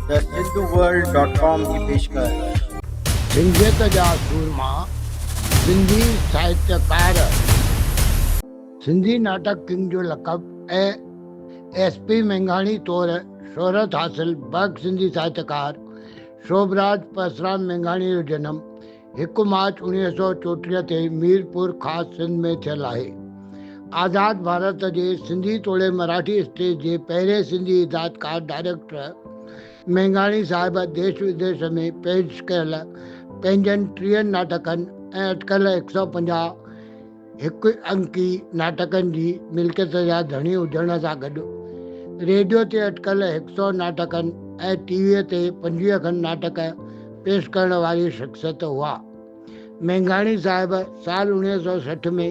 ته Sindhu world dot com جي پيشڪش. سنڌيت جا سورما سنڌي ساهتيڪار. سنڌي ناٽڪ ڪنگ جو لقب اي ايس پي مينگهاڻي طور شهرت حاصل بئڪ سنڌي ساهتيڪار شوڀراج پرسرام مينگهاڻي جو جنم هڪ مارچ اڻويهه سؤ چوٽيهه تي ميرپور خاص سنڌ ۾ ٿيل آهي. آزاد ڀارت جي سنڌي توڙي مراٺي اسٽيج جي پهرين سنڌي هدايتڪار ڊائريڪٽر مينگهاڻي صاحب ديش وديش ۾ پيش ڪيل پنهنجن ٽيهن ناٽڪن ۽ اٽڪل هڪ سؤ پنجاهه هڪ انڪي ناٽڪن جي ملڪيت جا ڌڻي هجڻ سان گڏ ريڊيو تي اٽڪل هڪ سؤ ناٽڪن ۽ ٽي ويء تي پنجويهه کن ناٽڪ پيش ڪرڻ واري شخصيت هئا. مينگهاڻي صاحب سال اڻويهه سؤ سٺ ۾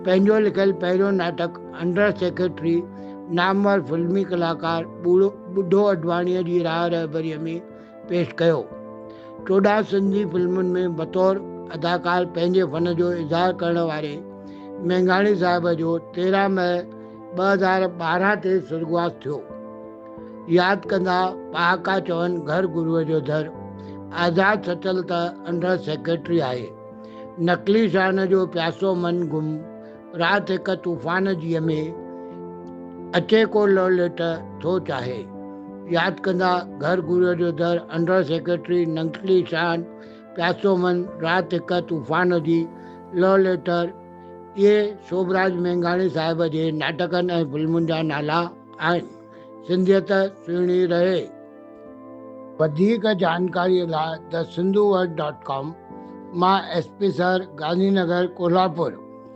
پنهنجو لکيل پهريون ناٽڪ انڊر سيڪريٽري نامور فلمي ڪلاڪار ٻوڙو ٻڍو اڏواڻيء جي راهه رهبريء ۾ پيش ڪيو. چوڏهن سنڌي فلمن ۾ بطور اداڪار پنهنجي فن جو اظهار ڪرڻ واري مينگهاڻي صاحب جو تيرهن مئي ٻه هزار ٻارهن تي سرڳواس ٿيو. ياد ڪندا پهاڪا چون گهر گروء جو در، آزاد سچل ته انڊر سيڪريٽري آهي، نقلي شان جو پياسو من گم، رات هڪ طوفان جيء ۾ اچي ڪو لوليٽ ٿو چاهي. ياد ڪندا گهر گهريو جو در انڊر سيڪريٽري ننگٽلي شان پياسو من رات هڪ طوفان جي لو ليٽر اهي سوڀراج مينگهاڻي صاحب جي ناٽڪن ۽ فلمن جا نالا آهن. سنڌيت سهڻي رهي. وڌيڪ جانڪاري لاء The Sindhu World Dot Com مان S P sir Gandhi Nagar Kolhapur.